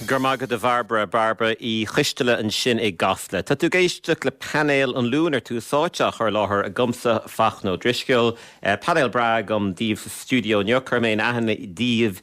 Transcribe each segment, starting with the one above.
Go raibh maith agat, a Bharbara, Barbara Uí Choisteala ansin i gCasla. Tá tú ag éisteacht le Painéal an Luain ar Tús Áite, á chur i láthair agamsa, Fachtna Ó Drisceoil. Painéal breá agam daoibh sa stiúideo inniu. Cuirfidh mé in aithne daoibh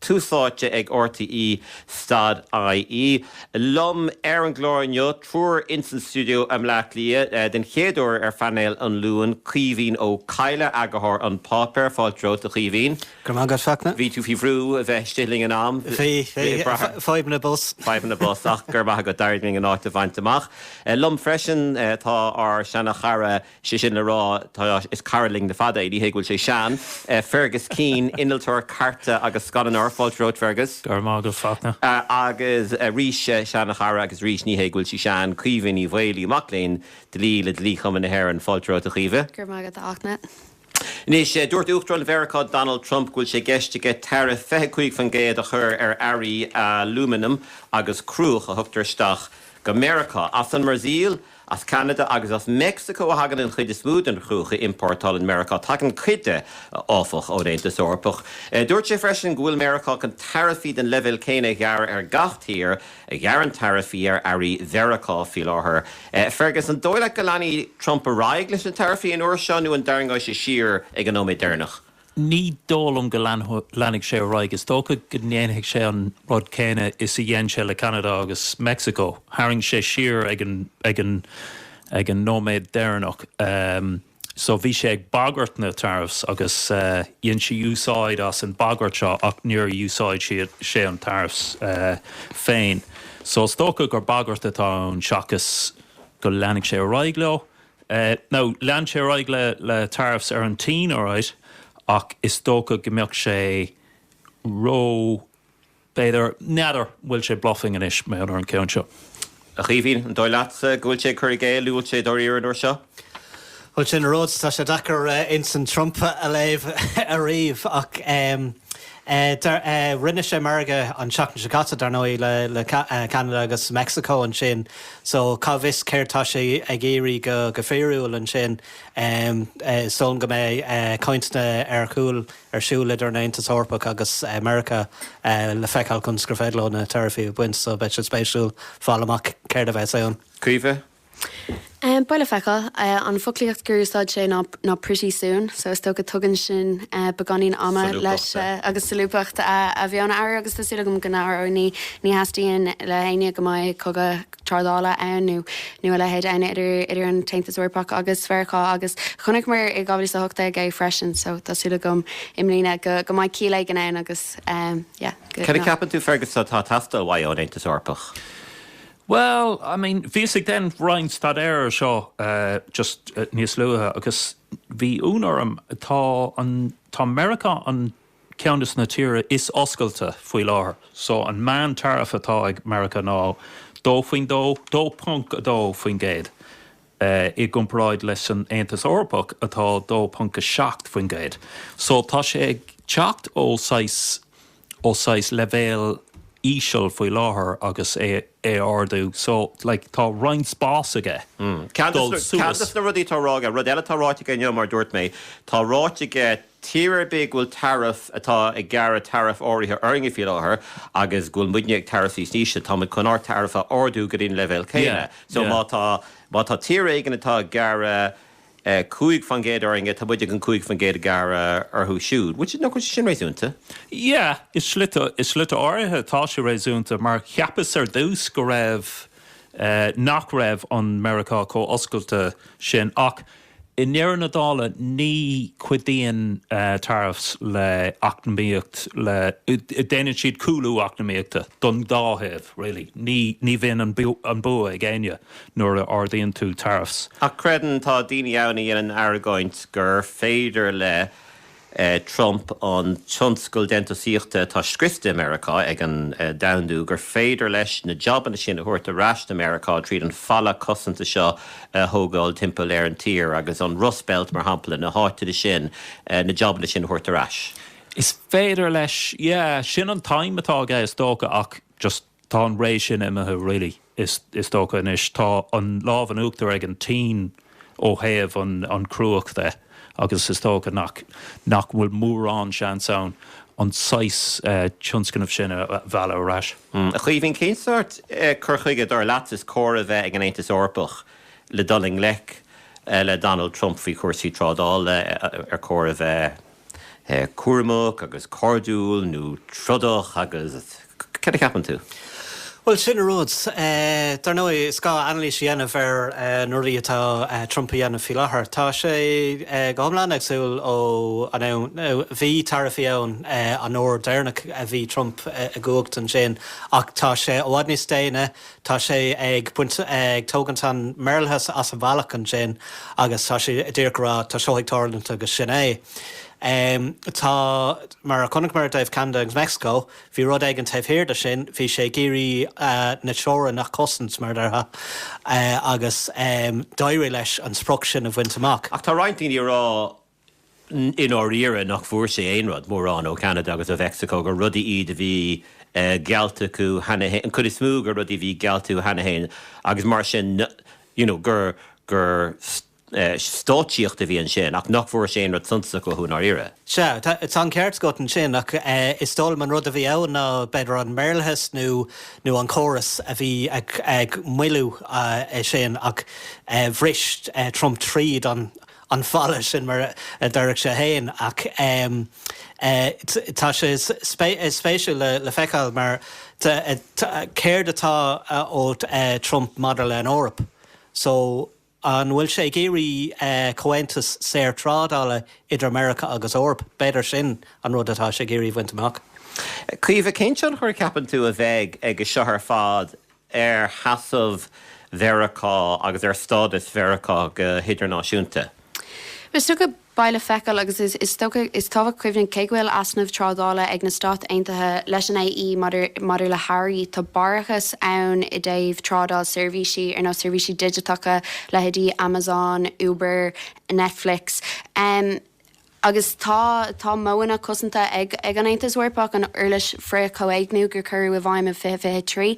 tusaite ag RTE stad IE. Liom ar an gclár inniu, triúr insan stiúideo i mBleá Cliath den chéad uair ar phainéal an Luain, Caoimhín Ó Cadhla, eagarthóir An Páipéar, fáilte romhat a Chaoimhín. Go raibh maith agat, a Fhachtna. Bhí tú faoi bhrú a bheith istigh linn in am. Bhí, bhí, fadhbanna bus. Fadhbanna bus, ach go raibh maith agat, d'éirigh linn an áit a bhaint amach. Liom freisin tá ár seana chara sé sin le rá, tá, is cara linn le fada é, ní hé go bhfuil sé sean, Fergus Keane, innealtóir cairte agus scannánóir, fáilte romhat Fergus. Go raibh maith agat a Fhachtna. Agus arís, seanchara agus arís ní hé go bhfuil sí sean, Caoimhe Ní Mhaolaí, mac léinn dlí le Dlí-Chumann na hÉireann, fáilte romhat a Chaoimhe. Go raibh maith agat a Fhachtna. Anois, dúirt Uachtarán Mheiriceá Donald Trump go bhfuil sé i gceist aige taraif 25 faoin gcéad a chur ar earraí alúmanaim agus cruach a thugtar isteach go Meiriceá as an mBrasaíl, As Ceanada agus as Meicsiceo a thagann an chuid is mó den chruach a iompórtálann Meiriceá. Tagann cuid de, áfach, ón Aontas Eorpach. Dúirt sé freisin go bhfuil Meiriceá chun taraifí den leibhéal céanna a ghearradh ar gach tír a ghearrann taraifí ar earraí Mheiriceá faoi láthair. Fergus, an dóigh leat go leanfaidh Trump ar aghaidh leis na taraifí an uair seo nó an dtarraingeoidh sé siar ag an nóiméad deireanach? Ní dóigh liom go leanfaidh sé ar aghaidh. Is dócha go ndéanfaidh sé an rud céanna is a dhein sé le Ceanada agus Meicsiceo. Tharraing sé siar ag an nóiméad deireanach. So bhí sé ag bagairt na tariffs agus dhein sé úsáid as an bhagairt seo ach níor úsáid sé an tariffs féin. So is dócha gur bagairt atá ann seachas go leanfaidh sé ar aghaidh leo. Eh, now, lean sé ar aghaidh le, le tariffs ar an tSín, alright, ach is dócha go mbeadh sé ró, b'fhéidir, n'fheadar an bhfuil sé bluffing anois, maidir, ar an gceann seo. A Chaoimhín, an dóigh leatsa go bhfuil sé ag cur i gcéill, nó bhfuil sé dáiríre an uair seo? Bhuel, sin an rud, tá sé deacair intinn Trump a léamh ariamh, ach em, eh, dar, eh, rinne sé margadh an tseachtain seo caite, dar ndóigh, le, le Ca, eh, Canada agus Mexico ansin. So cá bhfios céard tá sé ag iarraidh go go fíriúil ansin. So go mbeidh cainteanna ar chúl ar siúl idir an Aontas Eorpach agus Meiriceá le feiceáil conas gur féidir leo na taraifí a bhaint so beidh sé spéisiúil fáil amach céard a bheas ann. Caoimhe? Bhuel, le feiceáil. An foclaíocht gur úsáid sé ná. ná pretty soon so is dócha tugann sin beagáinín ama leis agus solúbthacht a bheith ann air agus tá súil agam go n-athróidh ní theastaíonn ó éinne go mbeidh cogadh trádála ann nó a leithéid ann idir an tAontas Eorpach agus Mheiriceá agus chonaiceamar i 2018 é freisin so tá súil agam i mbliana go go mbeidh ciall éigin ann agus yeah. Cad a ceapann tú Fergus atá ag teastáil uaidh ón Aontas Eorpach? Bhuel, I mean, bhíos ag déanamh roinnt staidéir ar seo just níos luaithe agus bhí ionadh orm, tá an, tá Meiriceá an ceann dos na tíre is oscailte faoi láthair. So an meán taraif atá ag Meiriceá ná dó faoin dó, 2.2%, i gcomparáid leis an Aontas Eorpach atá 2.7%. So tá sé ag teacht ó saghas, ó saghas leibhéal íseal faoi láthair agus é a ardú so like tá roinnt spás aige dul suas. Ceann dos na rudaí atá ráite aige, rud eile atá ráite aige inniu mar dúirt mé, tá ráite aige tír ar bith go bhfuil taraif, atá ag gearradh taraif áirithe orainne faoi láthair agus go bhfuil muidne ag taraif níos ísle, táimid chun ár taraif a ardú go dtí an leibhéal céanna. So má tá, má tá tír éigin atá ag gearradh. cúig fán gcéad orainne, táimid chun cúig fán gcéad a ghearradh orthu siúd, which is, nach bhfuil sin réasúnta. Yeah, i slite áirithe tá sé réasúnta, mar cheapas ar dtús go raibh, nach raibh an Meiriceá chomh oscailte sin, ach i ndeireadh na dála ní chuidíonn tariffs le eacnamaíocht, le, déanann siad cúlú eacnamaíochta don dá thaobh really, ní bhíonn an bua ag éinne, nuair a ardaíonn tú tariffs. An gcreideann, tá daoine ann a dhéanann argóint gur féidir le Trump an tionscal déantúsaíochta atá scriosta i Meiriceá ag an domhandú, gur féidir leis na jabanna sin a thabhairt ar ais go Meiriceá tríd an falla cosanta seo a thógáil timpeall ar an tír agus an Rust Belt mar shampla, na háiteanna sin, na jabanna sin a thabhairt ar ais. Is féidir leis, yeah, sin an t-aidhm atá aige is dócha ach just. Tá an ré sin imithe really is dócha. Anois tá an lámh in uachtar ag an tSín ó thaobh an cruach de agus is dócha nach, nach bhfuil mórán seans ann an saghas tionscnamh sin a mhealladh ar ais. A Chaoimhín, cén sórt cur chuige dar leat is cóir a bheith ag an Aontas Eorpach le dul i ngleic le Donald Trump faoi chúrsaí trádála ar chóir a bheith? cúramach agus cairdiúil nó trodach agus cad a cheapann tú? Bhuel, sin an rud é. Dar ndóigh, is gá anailís a dhéanamh ar na rudaí atá Trump a dhéanamh faoi láthair. Tá sé go hiomlán éagsúil ó an am, bhí taraifí ann an uair dheireanach a bhí Trump i gcumhacht ansin ach tá sé i bhfad níos déine, Tá sé ag baint, ag tógaint an maorlathas as an bhealach ansin agus tá sé díreach ag rá tá seo ag tarlúint agus sin é. Tá, mar a chonaic muid i dtaobh Canada agus Mexico, bhí rud éigin taobh thiar de sin, bhí sé ag iarraidh na teorainneacha a chosaint, mar a déarfá, agus d'éirigh leis an sprioc sin a bhaint amach. Ach tá roinnt daoine ag rá i ndáiríre nach bhfuair sé aon rud, mórán, ó Cheanada agus ó Mhexico, gur rudaí iad a bhí geallta acu cheana féin, an chuid is mó, gur rudaí a bhí geallta acu cheana féin agus mar sin you know gur gur stáitsíocht a bhí ansin ach nach bhfuair sé aon rud suntasach uathu i ndáiríre. Sea, tá an ceart agat ansin ach is dóigh liom an rud a bhí ann ná b'fhéidir an maorlathas nó nó an córas a bhí ag moilliú sin ach bhris Trump tríd an an falla sin mar a déarfadh sé féin ach tá sé spéisiúil le feiceáil mar céard atá ó Trump maidir le an Eoraip so an bhfuil sé ag iarraidh comhaontas saor trádála idir Meiriceá agus Eoraip b'fhéidir sin an rud atá sé ag iarraidh bhaint amach. Caoimhe, Cén tionchar a cheapann tú a bheidh aige seo ar fad ar sheasamh Mheiriceá agus ar stádas Mheiriceá go hidirnáisiúnta. Is dócha, beidh le feiceáil, agus is tábhachtach cuimhneamh, cé go bhfuil easnamh trádála ag na Stáit Aontaithe leis an AE maidir le hearraí, tá barrachas ann i dtaobh trádáil seirbhísí, ar nós seirbhísí digiteacha, leithéidí Amazon, Uber, Netflix. Agus tá, tá modhanna cosanta ag, ag an Aontas Eorpach, an uirlis frith-chomhéigniú a cuireadh i bhfeidhm i 2023.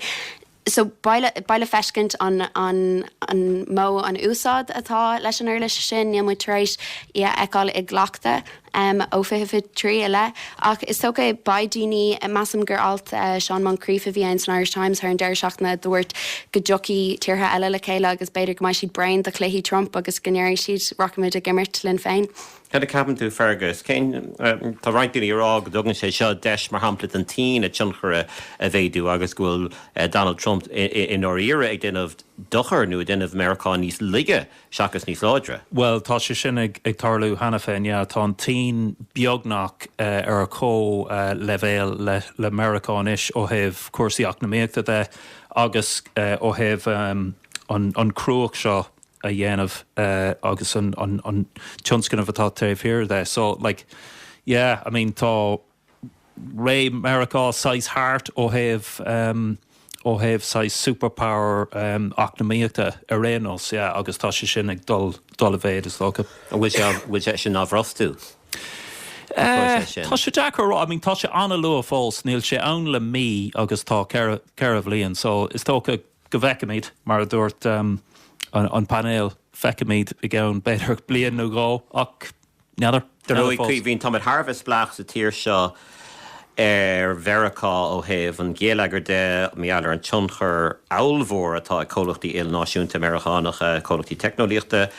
So beidh le, beidh le feiscint an, an, an mó an úsáid atá leis an uirlis sin, níl muid tar éis í a fheiceáil i gcleachtadh ó 2023 i leith. Ach is dócha, beidh daoine, measaim gur alt Seán Moncrief a bhí ann san Irish Times thar an deireadh seachtaine a dúirt go dtiocfaidh tíortha eile le chéile agus b'fhéidir go mbeidh siad bréan de chluichí Trump agus go ndéarfaidh siad, rachaimid ag imirt linn féin. Cad a cheapann tú, Fergus? Cén, tá roinnt daoine ag rá go dtugann sé seo deis mar shampla don tSín a tionchar a mhéadú agus go bhfuil Donald Trump i ndáiríre ag déanamh dochar nó ag déanamh Meiriceá níos laige. seachas níos láidre. Bhuel, tá sé sin ag tarlú cheana féin, yeah. Tá an tSín beagnach ar chomhleibhéal le Meiriceá anois ó thaobh cúrsaí eacnamaíochta de agus ó thaobh an chruach seo a dhéanamh agus an tionscnamh atá taobh thiar de. So, like, yeah, I mean, tá. ré Mheiriceá saghas thart, ó thaobh, ó thaobh saghas super power eacnamaíochta ar aon nós, yeah, agus tá sé sin ag dul, dul i mhéid is dócha. An bhfuil sé, bhfuil sé sin á bhrostú, an próiseas sin? Tá sé deacair a rá, I mean tá sé an-luath fós, níl sé ann le mí agus tá ceithre, ceithre bhliain so is dócha go bhfeicfimíd, mar a dúirt an painéal, feicfimíd i gceann b'fhéidir bliain nó dhó ach, N'fheadar. Caoimhín, táimid thar a bheith spleách sa tír seo ar Mheiriceá ó thaobh an gheilleagair de, mar gheall ar an tionchar ábhalmhór atá ag comhlachtaí ilnáisiúnta Meiriceánacha, comhlachtaí teicneolaíochta,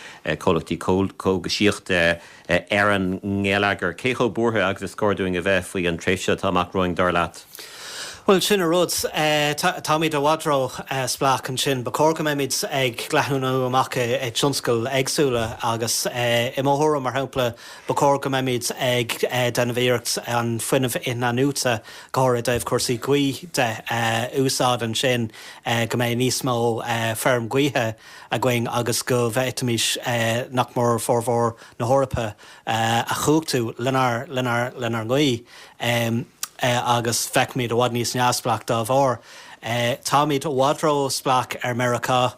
comhlachtaí cógaisíochta ar an ngeilleagar. Cé chomh buartha agus is cóir dúinn a bheith faoi an tréimhse atá amach romhainn, dar leat? Bhuel, sin an rud. Táimíd i bhfad róspleách ansin. Ba chóir go mbeimid ag leathnú amach i tionscail éagsúla agus i mo thuairim, mar shampla, ba chóir go mbeimid ag déanamh iarracht an fuinneamh in-athnuaite, go háirid i dtaobh cúrsaí gaoithe de, a úsáid ansin, go mbeidh níos mó feirm gaoithe againn agus go bhféadfaimís, nach mór, formhór na hEorpa, a chumhachtú lenár lenár lenár ngaoith agus beimid i bhfad níos neamhspleách dá bharr. Táimíd i bhfad róspleách ar Meiriceá.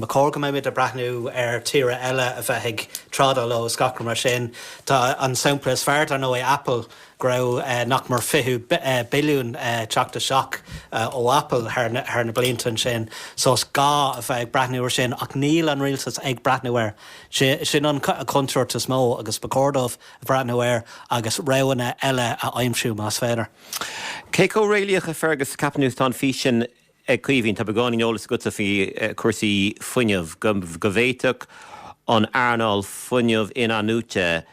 Ba chóir go mbeimid ag breathnú ar tíortha eile a bheith ag trádáil leo is gach rud mar sin. Tá, an sampla is fearr dar ndóigh Apple. go raibh nach mór 20 billiún ag teacht isteach ó Apple thar na blianta ansin so is gá a bheith ag breathnú ar sin ach níl an Rialtas ag breathnú air. Sin an chontúirt is mó agus ba chóir dóibh breathnú air agus roghanna eile a aimsiú más féidir. Cé chomh réalaíoch, a Fergus, a cheapann tú is atá an fís sin ag Caoimhín? Tá beagáinín eolas agatsa faoi chúrsaí fuinnimh, go bhféadfadh an earnáil fuinnimh in-athnuaite,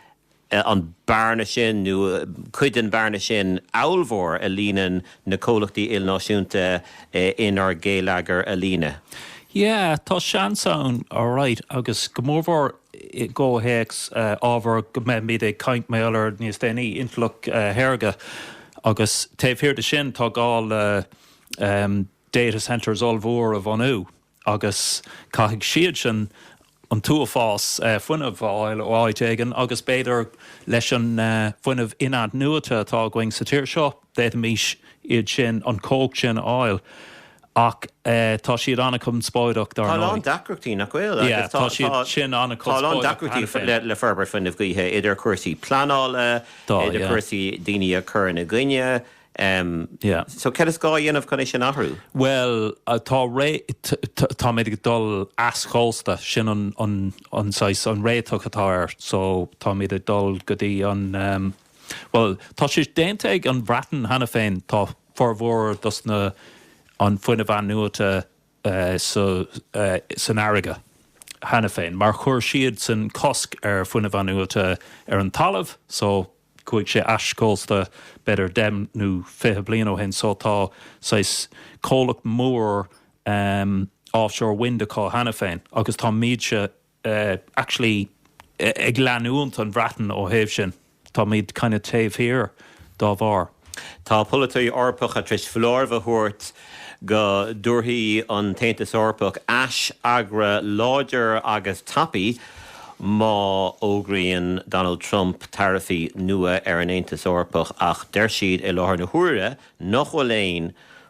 an bearna sin, nó cuid den bhearna sin, ábhalmhór a líonann na comhlachtaí ilnáisiúnta inár ngeilleagar a líonadh. Yeah, tá seans ann alright, agus go mórmhór i gcomhthéacs ábhar go mbeimid ag caint mar gheall air níos déanaí, intleacht shaorga. Agus taobh thiar de sin tá gá le data centres ollmhór a bhunú. agus caithfidh siad sin an t-uafás fuinnimh a fháil ó áit éigin agus b'fhéidir leis an bhfuinneamh in-athnuaite atá againn sa tír seo d'fhéadfaimís iad sin, an chumhacht sin a fháil ach tá siad an-conspóideach dar ndóigh. Tá a lán deacrachtaí, nach bhfuil? Tá siad sin an-conspóideach. Tá a lán deacrachtaí le, le forbairt fuinnimh gaoithe, idir cúrsaí pleanála, idir cúrsaí daoine a chuireann i gcoinne, Em, Yeah. so céard is gá a dhéanamh chun é sin a athrú? Bhuel, tá ré, tá, táimid ag dul eischósta, sin an, an, an saghas, an réiteach atá air, so táimid ag dul go dtí an em, bhuel, tá sé déanta ag an Bhreatain cheana féin, tá formhór dos na, an fuinneamh athnuaite eh sa, eh san fharraige cheana féin, mar chuir siadsan cosc ar fuinneamh athnuaite ar an talamh, so, chuaigh sé eischósta b'fhéidir deich nó fiche bliain ó shin so tá saghas comhlacht mór offshore wind acu cheana féin agus táimidse actually ag leanúint an Bhreatain ó thaobh sin, táimíd kind of taobh thiar dá bharr. Tá polaiteoirí Eorpacha tar éis foláireamh a thabhairt go dtabharfaidh an tAontas Eorpach aisfhreagra láidir agus tapaidh má fhógraíonn Donald Trump taraifí nua ar an Aontas Eorpach ach deir siad i láthair na huaire nach bhfuil aon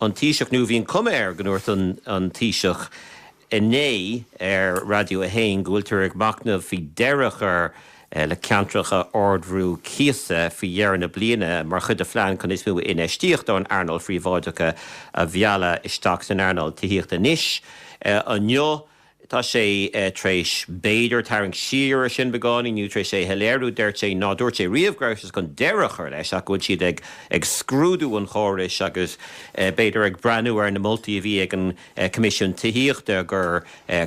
an Taoiseach, nó bhí an cuma air go ndúirt an Taoiseach inné ar Radio 1 go bhfuiltear ag machnamh faoi deireadh a chur le ceantracha ardbhrú cíosa faoi dheireadh na bliana mar chuid de phlean chun níos mó infheistíocht ón earnáil phríobháideach a mhealladh isteach san earnáil tithíochta anois. Inniu, tá sé tar éis b'fhéidir tarraingt siar ar sin beagáinín nó tar éis é a shoiléiriú, deir sé ná dúirt sé riamh go raibh sé chun deireadh a chur leis ach go bhfuil siad ag ag scrúdú an chórais agus b'fhéidir ag breathnú ar na moltaí a bhí ag an Coimisiún Tithíochta gur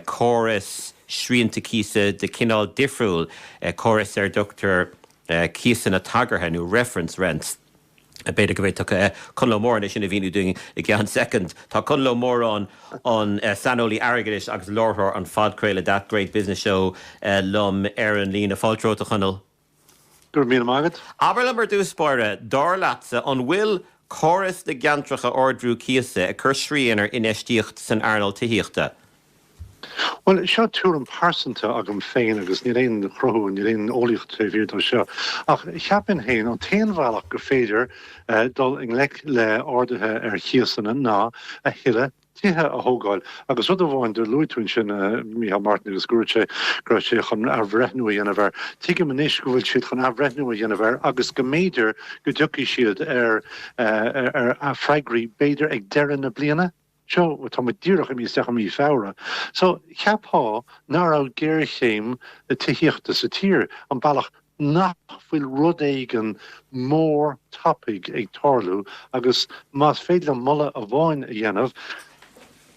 córas srianta cíosa de chineál difriúil, córas ar a dtugtar cíosanna tagartha nó reference rents. B'fhéidir go bhféadfadh Conall Ó Móráin é sin a mhíniú dúinn i gceann soicind. Tá Conall Ó Móráin, an saineolaí airgeadais agus láithreoir an phodchraoladh That Great Business Show liom ar an líne. Fáilte romhat, a Chonaill. Go raibh míle maith agat. Abair liom ar dtús báire, dar leatsa, an bhfuil córas na gceantracha ardbhrú cíosa ag cur srian ar infheistíocht san earnáil tithíochta? Bhuel, seo tuairim pearsanta agam féin agus níl aon chruthú, níl aon eolaíocht taobh thiar dó seo, ach cheapfainn féin an t-aon bhealach gur féidir dul i ngleic le arduithe ar chíosanna ná a thuilleadh tithe a thógáil agus rud amháin do luaigh tú ansin Micheál Martin agus go raibh sé, go raibh sé chun athbhreithniú a dhéanamh air. Tuigim anois go bhfuil siad chun athbhreithniú a dhéanamh air agus go mb'fhéidir go dtiocfaidh siad ar, ar, ar, ar, freagraí b'fhéidir ag deireadh na bliana? Seo, tá muid díreach imithe isteach i mí Feabhra, so cheapfá nach raibh géarchéim na tithíochta sa tír, an bealach nach bhfuil rud éigean mór tapaidh ag tarlú agus más féidir liom moladh amháin a dhéanamh,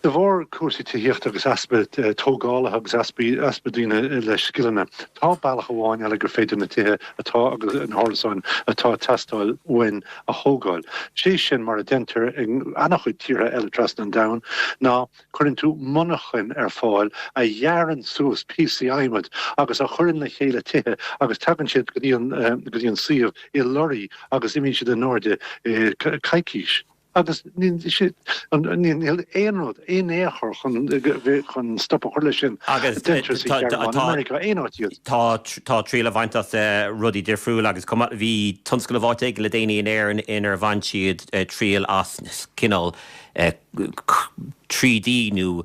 de bharr cúrsaí tithíochta agus easpa tógálaithe agus easpa, easpa daoine le scileanna, tá bealach amháin eile gur féidir na tithe atá agus na hárasáin atá ag teastáil uainn a thógáil. Sé sin mar a deintear i an-chuid tíortha eile trasna an domhain ná cuireann tú monarchan ar fáil a ghearrann suas píosaí adhmaid agus a chuireann le chéile tithe agus tagann siad go dtí an suíomh i lorraí agus imíonn siad in airde i coicís. Agus. Níl aon rud, in aon chor chun stop a chur le sin a deintear sa Ghearmáin, i Meiriceá, aon áit iad. Tá triail á bhaint as rudaí difriúla agus chomh maith, bhí tionscnamh áit éigin le déanaí in Éirinn inar bhain siad triail as cineál 3D nó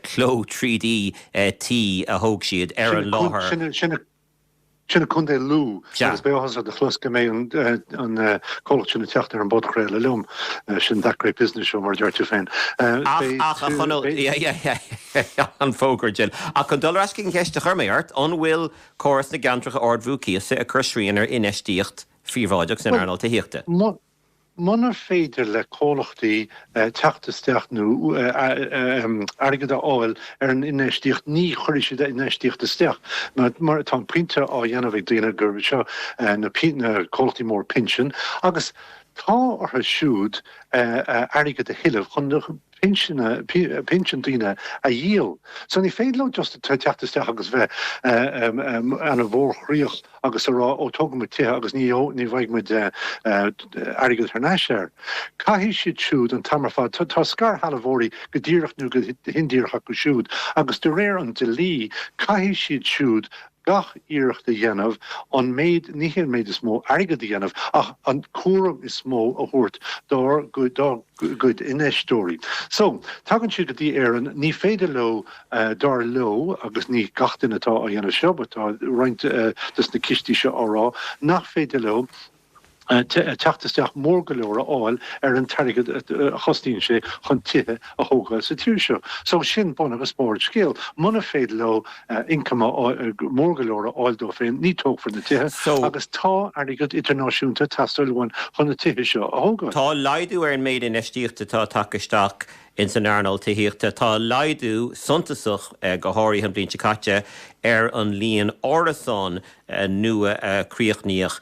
cló 3D tí a thóg siad ar an láthair. sin i gContae Lú agus beidh áthas ort a chlos go mbeidh an comhlacht sin ag teacht ar an bpodchraoladh liom. Sin That Great Business Show mar a deir tú féin. Ach a Chonaill, an fógra dhil. Ach chun dul ar ais chuig an cheist a chuir mé ort, an bhfuil córas na gceantracha ardbhrú cíosa ag cur srian ar infheistíocht phríobháideach san earnáil tithíochta? Munar féidir le comhlachtaí teacht isteach nó airgead a fháil ar an infheistíocht ní chuirfidh siad infheistíocht isteach. Mar tá an pointe á dhéanamh ag daoine gurb sheo na comhlachtaí móra pinsin agus tá orthu siúd airgead a thuilleamh chun pinsin, pinsin daoine a dhíol. So ní féidir leo just teacht isteach agus bheith ana mhórchroíoch agus a rá ó tógfaidh muid tithe agus ní bhfaighidh muid airgead thar n-ais air. Caithfidh siad siúd an t-am ar fad, tá scairshealbhóirí go díreach nó go hindíreach acu siúd agus de réir an dlí caithfidh siad siúd gach iarracht a dhéanamh an méid, ní hé an méid is mó airgead a dhéanamh, ach an cúram is mó a thabhairt dá gcuid infheisteoirí. So, tagann siad go dtí Éirinn, ní féidir leo, dar leo, agus ní gach duine atá á dhéanamh seo, ach tá roinnt dos na cistí seo á rá nach féidir leo, teacht isteach mór go leor a fháil ar an t-airgead a chostaíonn sé chun tithe a thógáil sa tír seo. So sin bun agus barr an scéal. Muna féidir leo income mór go leor a fháil dóibh féin ní tógfar na tithe agus tá airgead idirnáisiúnta ag teastáil uainn chun na tithe seo a thógáil. Tá laghdú ar an méid infheistíochta atá tagtha isteach in san earnáil tithíochta. Tá laghdú suntasach, go háirithe an bhliain seo caite, ar an líon árasán nua a críochnaíodh,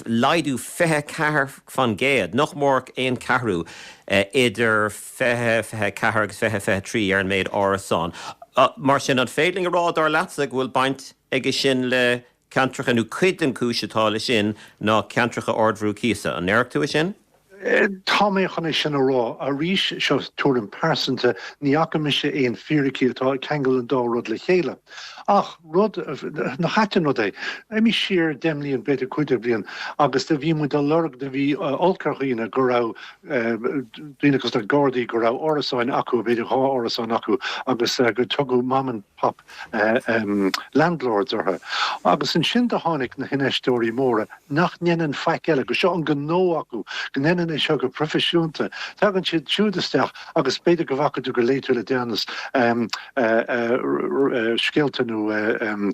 laghdú 24 faoin gcéad, nach mór aon cheathrú, idir 2024 agus 2023 ar an méid árasán. Mar sin, an féidir linn a rá, dar leatsa, go bhfuil baint aige sin le ceantracha, nó cuid den chúis atá le sin ná ceantracha ardbhrú cíosa? An ndéarfá tú é sin? Tá mé chun é sin a rá. Arís, seo tuairim pearsanta, ní fhaca mise aon fíricí atá ag ceangal an dá rud le chéile. Ach rud, nach ait an rud é, imigh siar deich mbliain, b'fhéidir cúig déag bliain, agus do bhí muid á lorg, do bhí olc ar dhaoine go raibh daoine cosúil le Gardaí, go raibh árasáin acu, b'fhéidir dhá árasán acu, agus gur tugadh mom and. pop, ahem, landlords orthu. Agus ansin do tháinig na hinfheisteoirí móra nach ndeineann faic eile, go seo an gnó acu, go ndeineann é seo go proifisiúnta. Tagann siad siúd isteach agus b'fhéidir go bhfaca tú nó gur léigh tú le deireanas, ahem, scéalta nó, ahem,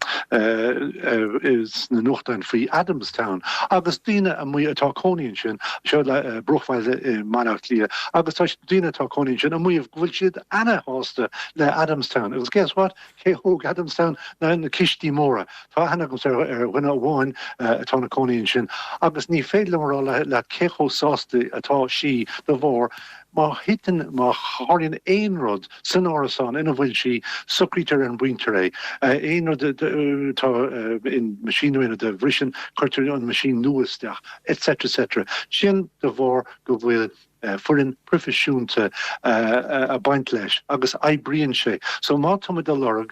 sna nuachtáin faoi Adamstown agus daoine amuigh atá cónaí ansin, seo é bruachbhaile i mBaile Átha Cliath, agus tá daoine atá cónaí ansin amuigh go bhfuil siad, ana-shásta le Adamstown agus guess what? Cé thóg Adamstown na na cistí móra. Tá aithne agamsa ar ar dhuine amháin atá ina cónaí ansin agus ní féidir liom a rá leat cé chomh sásta atá sí de bharr má thiteann má tharlaíonn aon rud san árasán ina bhfuil sí socraítear ar an bpointe é. Aon rud atá, aon machine nó aon rud a bhriseann cuirtear an machine nua isteach etc etc. Sin de bharr go bhfuil eh, foireann proifisiúnta eh, ag baint leis agus oibríonn sé. So má tá muid ag lorg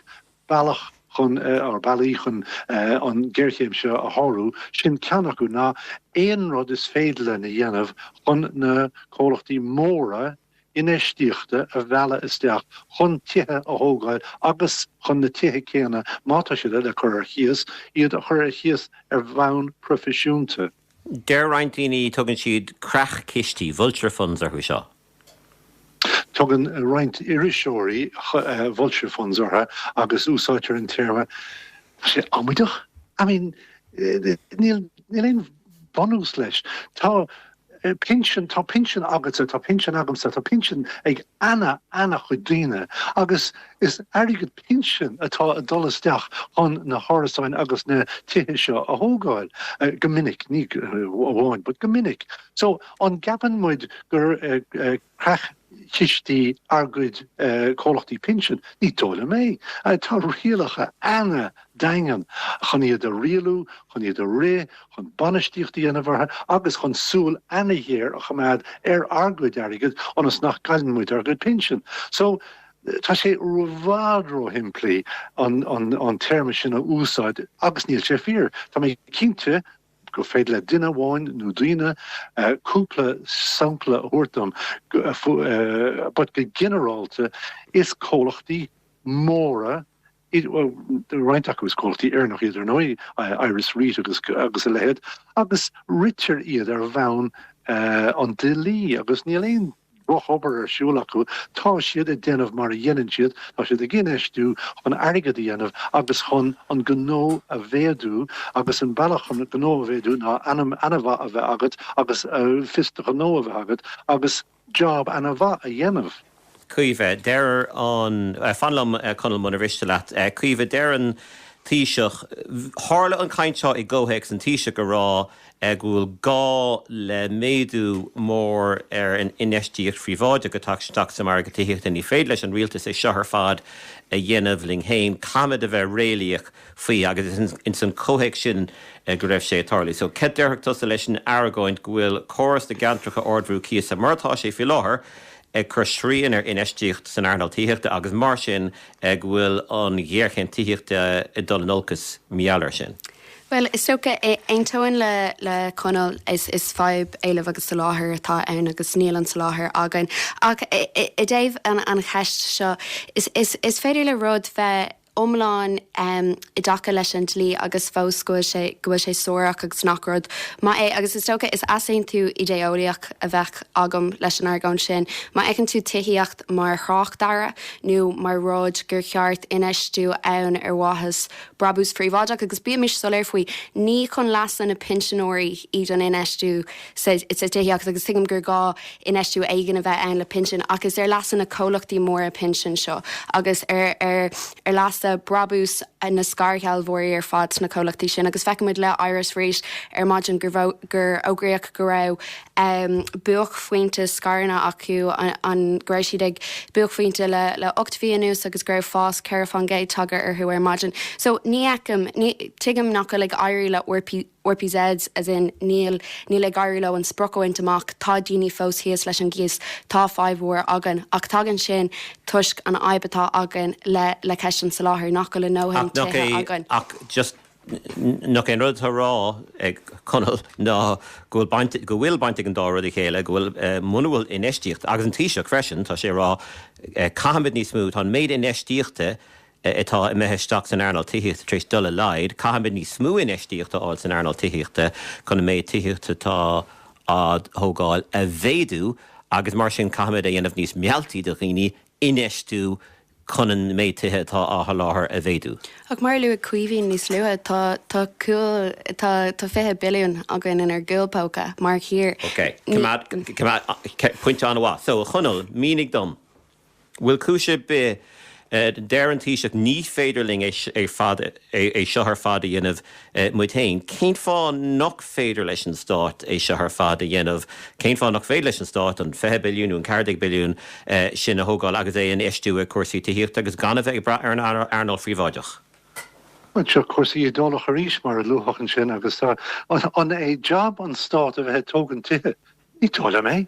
bealach chun eh, or bealaí chun eh, an géarchéim seo a shárú, sin ceann acu ná aon rud is féidir linn a dhéanamh chun na comhlachtaí móra infheistíochta a mhealladh isteach chun tithe a thógáil agus chun na tithe céanna, má tá siad le cur ar chíos, iad a chur ar chíos ar bhonn proifisiúnta. Deir roinnt daoine tugann siad creach-chistí, vulture funds, orthu seo. Tugann roinnt iriseoirí vulture funds orthu agus úsáidtear an téarma tá sé amaideach. I mean níl aon bhunús leis. Tá pinsean, tá pinsean agatsa, tá pinsean agamsa, tá pinsean ag ana-ana-chuid daoine agus is airgead, pinsean atá ag dul isteach chun na hárasáin agus na tithe seo a thógáil, go minic, ní amháin, but go minic. So, an gceapann muid gur creach-chistí ár gcuid comhlachtaí pinsean? Ní dóigh liom é. Tá rialacha ana-daingean chun iad a rialú, chun iad a rith, chun bainistíocht a dhéanamh orthu agus chun súil ana-ghéar a choimeád ar ár gcuid airgid ionas nach gcailleann muid ár gcuid pinsean. So, Tá sé ró-fhada ró-shimplí an téarma sin a úsáid agus níl sé fíor. Tá mé cinnte gur féidir le duine amháin nó daoine cúpla sampla a thabhairt dom but go ginearálta is comhlachtaí móra Bhuel, roinnt acu is comhlachtaí Éireannach iad ar ndóigh, Ires Reit agus a leithéad, agus ritear iad ar bhonn an dlí agus níl aon drochobair ar siúl acu. Tá siad ag déanamh mar a dhéanann siad, tá siad ag infheistiú chun airgead a dhéanamh agus chun an gnó a mhéadú agus an bealach chun gnó a mhéadú ná ainm maith a bheith agat agus fios do ghnó a bheith agat agus job ana mhaith a dhéanamh. Caoimhe, Deir an, fan liom Conall muna mhiste leat, Caoimhe, deir an Taoiseach, tharla an chaint seo i gcomhthéacs an Taoiseach ag rá go bhfuil gá le méadú mór ar an infheistíocht phríobháideach ag teacht isteach sa margadh tithíochta, ní féidir leis an Rialtas é seo ar fad a dhéanamh linn féin, caithfimid a bheith réalaíoch. faoi, agus ins an comhthéacs sin go raibh sé ag tarlú. So cad déarfá tusa leis an argóint go bhfuil córas na gceantracha ardbhrú cíosa, mar atá sé faoi láthair, ag cur srian ar infheistíocht san earnáil tithíochta agus mar sin go bhfuil an ghéarchéim tithíochta ag dul in olcas mar gheall ar sin? Bhuel, is dócha, aontóinn le, le Conall, is, is fadhb éilimh agus soláthair atá ann agus níl an soláthar againn. Ach i, i, i dtaobh an, an cheist seo, is, is, is féidir le rud a bheith, iomlán i dtaca leis an dlí agus fós go bhfuil sé, go bhfuil sé suarach agus nach rud maith é. Agus is dócha, is easaontú idé-eolaíoch a bheadh agam leis an argóint sin. Má fheiceann tú tithíocht mar thráchtearra nó mar rud gur cheart infheistiú ann ar mhaithe le brabús príobháideach, agus bímis soiléir faoi, ní chun leasa na pinsinéirí iad an infheistiú, sa tithíocht agus tuigim gur gá infheistiú éigin a bheith ann le pinsin ach is ar leasa na comhlachtaí móra pinsean seo agus ar ar leasa brabús na scairshealbhóirí ar fad sna comhlachtaí sin agus feicimid le Ires Reit ar maidin gur gur fógraíodh go raibh buaicphointe scaireanna acu an go raibh siad ag buaicphointe le le 8 mhí anuas agus go raibh fás 4 fán gcéad tagtha orthu ar maidin so ní fheicim ní thuigim nach bhfuil ag éirí le RPZ, As in, níl, níl ag éirí leo an sprioc a bhaint amach, tá daoine fós thíos leis an gcíos, tá fadhb mhór againn. Ach tagann sin toisc an fhadhb atá againn le, le ceist an tsoláthair, nach bhfuil ár ndóthain tithe againn. Ach just, nach é an rud atá a rá ag Conall ná go bhfuil baint, go bhfuil baint ag an dá rud le chéile, go bhfuil, muna bhfuil infheistíocht, agus an Taoiseach freisin, tá sé a rá caithfimid níos mó, tá an méid infheistíochta atá imithe isteach san earnáil tithíochta tar éis dul i laghad, caithfimid níos mó infheistíocht a fháil san earnáil tithíochta chun an méid tithíochta atá á thógáil a mhéadú agus mar sin caithfimid é a dhéanamh níos mealltaí do dhaoine infheistiú chun an méid tithe atá á sholáthar a mhéadú. Ach mar a luaigh Caoimhín níos luaithe, tá tá cúl tá tá fiche billiún againn inár gcúl póca mar thír. Okay. Pointe an-mhaith. So, a Chonaill, mínigh dom. Bhfuil cúis ar bith Deir an Taoiseach ní féidir linn é é seo ar fad a dhéanamh muid féin. Cén fáth nach féidir leis an Stát é seo ar fad a dhéanamh? Cén fáth nach féidir leis an Stát an 20 billiún nó an 14 billiún sin a thógáil agus é a infheistiú i cúrsaí tithíochta agus gan a bheith ag brath ar an earnáil phríobháideach? Seo cúrsaí idé-eolaíochta arís mar a luafadh ansin agus an é jab an Stát a bheith ag tógaint tithe? Ní dóigh liom é.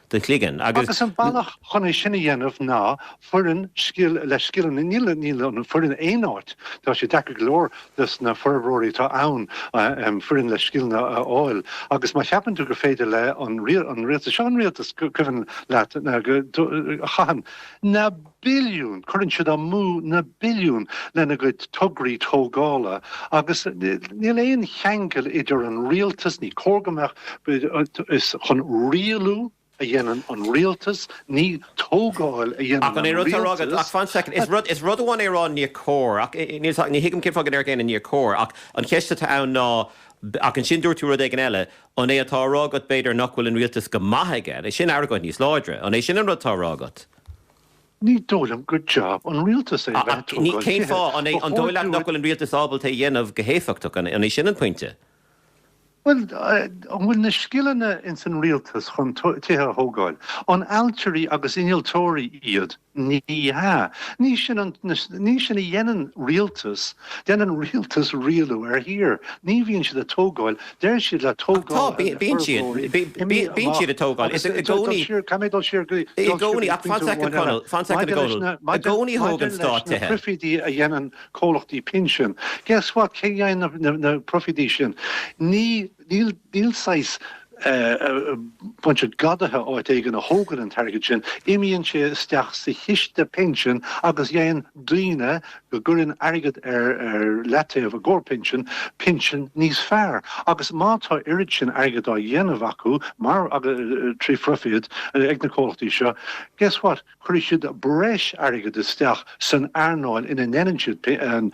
do chloigeann agus. Agus an bealach chun é sin a dhéanamh ná foireann scil le scileanna, níl, níl an foireann aon áit, tá sé deacair go leor dos na forbróirí atá ann foireann le scileanna a fháil agus má cheapann tú gur féidir le an rialtas, seo an rialtas cuimhin leat go chaitheann na. billiún, cuireann siad amú na billiúin lena gcuid tograí tógála agus níl aon cheangal idir an rialtas, ní cóir go mbeadh, is chun rialú a dhéanann an rialtas, ní tógáil a dhéanann an rialtas. Ach fan soicind, is rud, is rud amháin é a rá níor cóir, ach ní thuigim cén fáth go ndeir éinne níor cóir, ach an cheist atá ann ná, ach ansin dúirt tú rud éigin eile, an é atá á rá agat b'fhéidir nach bhfuil an rialtas go maith aige, is é sin argóint níos láidre, an é sin an rud atá á rá agat? Ní dóigh liom gur job an Rialtas é. Cén fáth? An dóigh leat nach bhfuil an Rialtas ábalta é a dhéanamh go héifeachtach, an é sin an pointe? Bhuel, an bhfuil na scileanna ins an Rialtas chun tithe a thógáil? An ailtirí agus innealtóirí iad? Ní hea. Ní sin an, ní sin a dhéanann Rialtas. Déanann rialtas rialú ar thír. Ní bhíonn siad ag tógáil. Deir siad le tógáil Tá, bíonn siad. Bíonn siad ag tógáil. Is i gcónaí. Caith mé dul siar go dtí. I gcónaí, ach fan soicind a Chonaill, fan soicind a Chonaill. I gcónaí thóg an Stát tithe. Maidir leis na proifídí a dhéanann comhlachtaí pinsin, guess what, cé a dhéanann na proifídí sin? Ní Níl saghas bunch of gadaithe áit éigin a thógann an t-airgead sin. Imíonn sé isteach sa chiste pinsin agus faigheann daoine go gcuireann airgead ar leataobh i gcóir pinsin, pinsin níos fearr. Agus má tá oiread sin airgid á dhéanamh acu, mar trí phroifíd, ag na comhlachtaí seo, guess what, cuirfidh siad breis airgid isteach san earnáil ina ndeineann siad an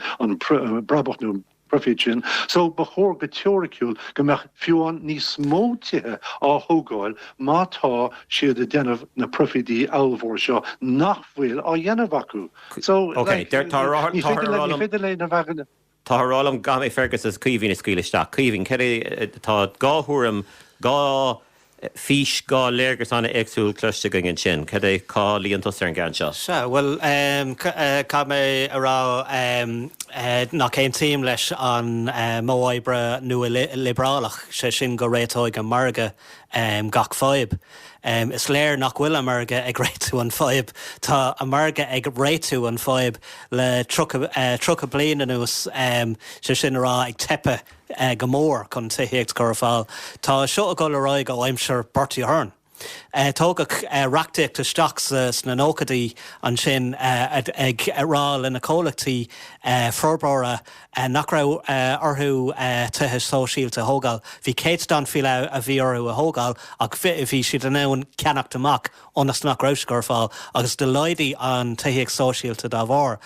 brabach nó. profit sin, so ba chóir go teoiriciúil go mbeadh fiú amháin níos mó tithe á thógáil má tá siad a déanamh na profití ollmhór seo nach bhfuil á dhéanamh acu. So, Ok, like, tá a rá ní tá féidir a rá ní liom féidir linn a bheith in tá orm, gabh mé Fergus is Caoimhín a scaoil isteach. Caoimhín, céard é, tá dhá thuairim, dhá fís, dhá léargas an-éagsúil cloiste againn ansin. Cad é, cá luíonn tusa ar an gceann seo? Sea, bhuel, caithfidh mé a rá nach aontaím leis an modh oibre nua-liobrálach, sé sin go réiteoidh an margadh gach fadhb. Is léir nach bhfuil an margadh ag réitiú an fadhb. Tá an margadh ag réitiú an fadhb le tríocha bliain anuas, sé sin a rá, ag teipeadh. go mór chun tithíocht a chur ar fáil. Tá seo ag dul ar aghaidh ó aimsir Bertie Ahern. Tógadh reachtaíocht isteach sna nóchaidí ansin ag rá le na comhlachtaí forbóra nach raibh orthu tithe sóisialta a thógáil. Bhí céatadán faoi leith a bhí orthu a thógáil ach bhí siad in ann ceannacht amach ionas nach raibh siad ar fáil agus do laghdaigh an tithíocht sóisialta dá bharr.